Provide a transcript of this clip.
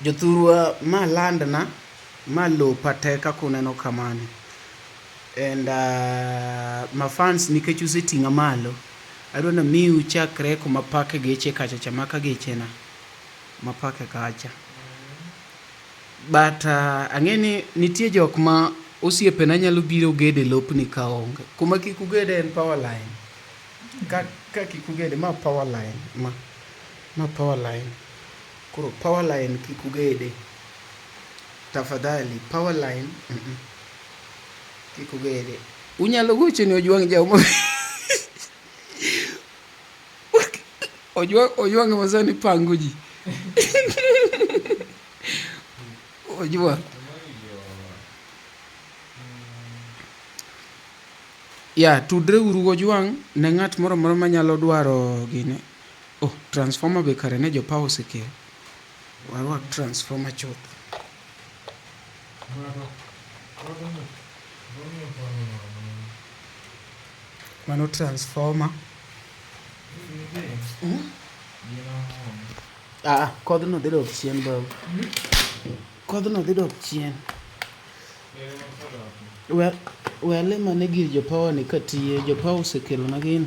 Jothurwa ma land na, ma lopa te kaka uneno kamani. And ma fans nikech useting'a malo, adwa namiu chakre kuma apake geche kacha cha, maka geche na mapake kacha. But ang'e ni nitie jok ma osiepe na nyalo biro gede lopni ka onge. Kuma kik ugede en power line, ka kik ugede, ma power line ma. Ma power line. Koro power line kik ugede. Tafadhali power line. Mm -mm. Kik ugede. Unyalo gocho ni Ojwang' Jaw ma Ojwang' Ojwang' ma sani pango ji. Ojwang'. Ya, tudre uru Ojwang' ne ng'at moro moro manyalo dwaro gini. Oh, transformer be kare ne jopawa osekelo. Warwak transformer chuth. Mano transformer. Hmm? Ah, kodhno dhi dok chien bau. Hmm? Kodhno dhi dok chien. We, we alima ne gir jopawa ni katiye, jopawa osekelo na gini.